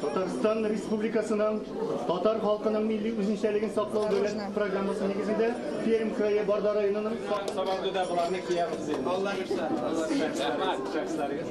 Татарстан Республикасының татар халкының милли үзенчәлеген саклау дәүләт программасы нигезендә Пермь крае Барда районының Сабанды да боларны киябез инде. Аллар ирсә. Аллар ирсә. Чаксарыгыз.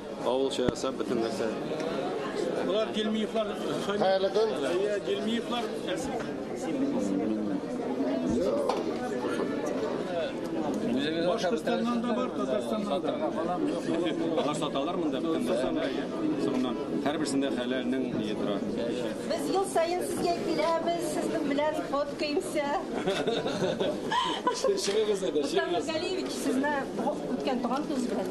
Авылча ясап бөтен нәрсә. Болар Гельмиевлар. Хәерле көн. Әйе, Гельмиевлар. Башкортстаннан да бар, Татарстаннан да. Алар саталар монда бөтен нәрсәне. Соңыннан һәрберсендә хәләлнең ние тора. Без ел саен сезгә киләбез, сезнең белән фоткаемся. Чыгыгыз әйдә, чыгыгыз. Галиевич, сезне үткән туган көз белән.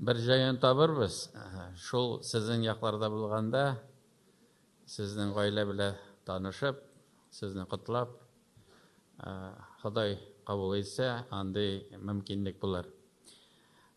Бер җаен табырбыз. Шул сезнең якларда булганда, сезнең гаилә белә танышып, сезне котлап, Ходай кабул итсә, андый мөмкинлек булыр.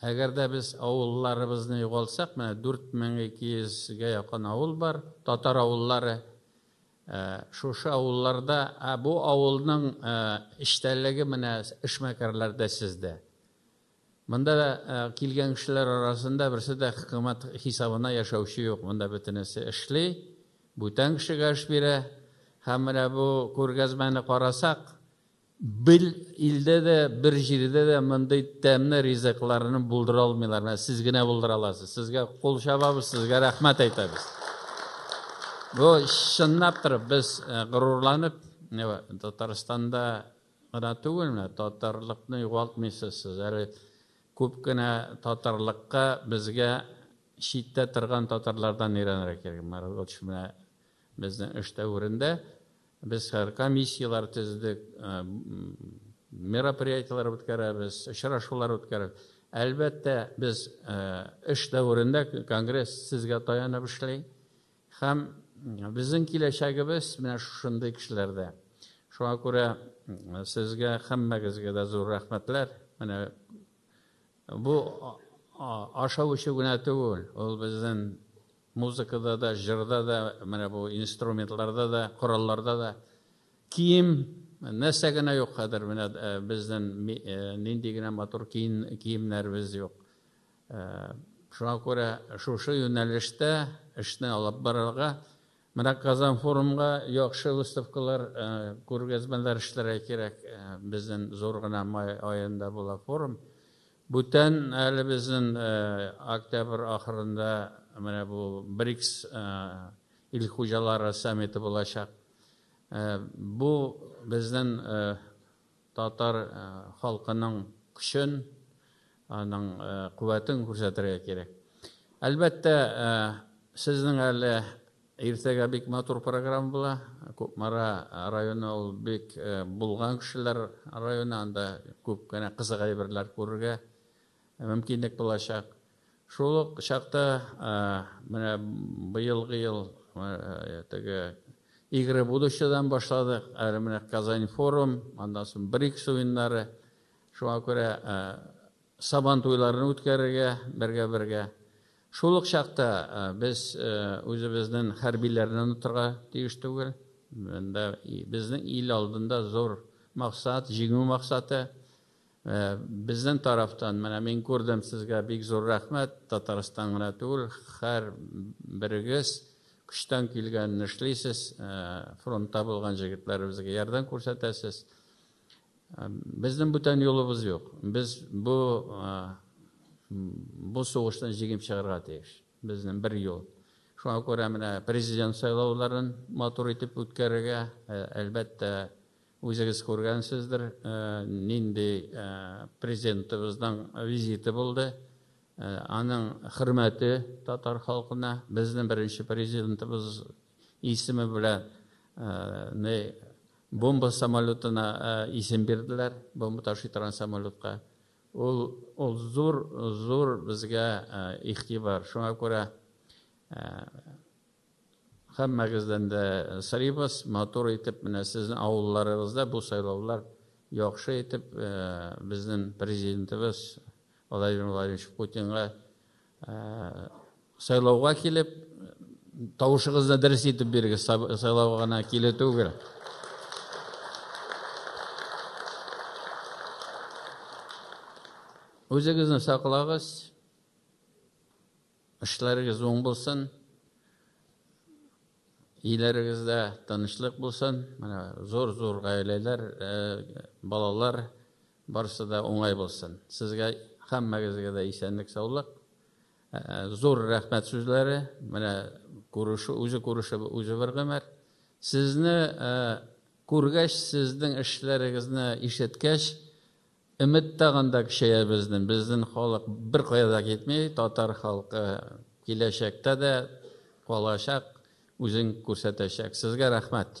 Әгәр дә без авылларыбызны югалтсак, менә 4200 гә якын авыл бар, татар авыллары. Шушы авылларда, ә бу авылның эчтәлеге менә эшмәкәрләрдә, сездә. Монда килгән кешеләр арасында берсе дә хөкүмәт хисабына яшәүче юк, монда бөтенесе эшли, бүтән кешегә эш бирә. Һәм менә бу күргәзмәне карасак, Бер илдә дә, бер җирдә дә мондый тәмле ризыкларны булдыра алмыйлар. Менә сез генә булдыра аласыз. Сезгә кул чабабыз, сезгә рәхмәт әйтәбез. Бу чынлап торып без горурланып, Татарстанда гына түгел, менә татарлыкны югалтмыйсыз сез. Әле күп кенә татарлыкка безгә читтә торган татарлардан өйрәнергә кирәк. Маргоч менә безнең эштә үрендә. Без хәзер комиссияләр төздек, мероприятиеләр үткәрәбез, очрашулар үткәрәбез. Әлбәттә, без эш дәверендә конгресс сезгә таянып эшли һәм безнең киләчәгебез менә шушындый кешеләрдә. Шуңа күрә сезгә һәммәгезгә дә зур рәхмәтләр. Менә бу ашау-эчү генә түгел, ул безнең Музыкада да, җырда да, менә бу инструментларда да, коралларда да. Кием, нәрсә генә юк хәзер, менә безнең нинди генә матур киемнәребез юк. Шуңа күрә шушы юнәлештә эшне алып барырга, менә Казан форумга яхшы выставкалар, күргәзмәләр эшләргә кирәк. Безнең зур гына май аенда була форум. Бүтән әле безнен октябрь ахырында менә бу БРИКС ил хуҗалары саммиты булачак. Бу безнен татар халкының көчен, аның куәтен күрсәтергә кирәк. Әлбәттә, сезнең әле Иртәгә бик матур программа була. Кукмара районы ул бик булган кешеләр районы, анда күп кенә кызык әйберләр күрергә мөмкинлек булачак. Шул ук чакта менә быелгы ел теге Игры будущедан башладык, әле менә Казань форум, аннан соң БРИКС уеннары. Шуңа күрә Сабан туйларын үткәрергә бергә-бергә. Шул ук чакта без үзебезнен хәрбиләрне онытырга тиеш түгел. Монда безнең ил алдында зур максат, җиңү максаты. Безнен тарафтан менә мин күрдем сезгә бик зур рәхмәт, Татарстан гына түгел, хәр берегез көчтән килгәнне эшлисез, фронтта булган җегетләребезгә ярдәм күрсәтәсез. Безнең бүтән юлыбыз юк. Без бу бу сугыштан җиңеп чыгарга тиеш. Безнең бер юл. Шуңа күрә менә президент сайлауларын матур итеп үткәрергә, әлбәттә, үзегез күргәнсездер, нинди президентыбызның визиты булды. Аның хөрмәте татар халкына, безнең беренче президентыбыз исеме белән Бомба самолетына исем бирделәр, бомба ташый торган самолетка. Ул, ул зур, зур безгә игътибар. Шуңа күрә һәммәгездән дә сорыйбыз, матур итеп менә сезнең авылларыгызда бу сайлаулар яхшы итеп безнең президентыбыз Владимир Владимирович Путинга Сайлауга килеп, тавышыгызны дөрес итеп бирегез, сайлауга гына килү түгел. Үзегезне саклагыз, эшләрегез уң булсын. Өйләрегездә тынычлык булсын, менә зур-зур гаиләләр, балалар, барысы да уңай булсын. Сезгә, һәммәгезгә дә исәнлек-саулык. Зур рәхмәт сүзләре, менә күрешү, үзе күрешеп, үзе бер гомер. Сезне күргәч, сезнең эшләрегезне ишеткәч, Өмет тагын да көчәя безнең. Безнең халык беркая да китми. Татар халкы киләчәктә дә калачак, үзен күрсәтәчәк. Сезгә рәхмәт.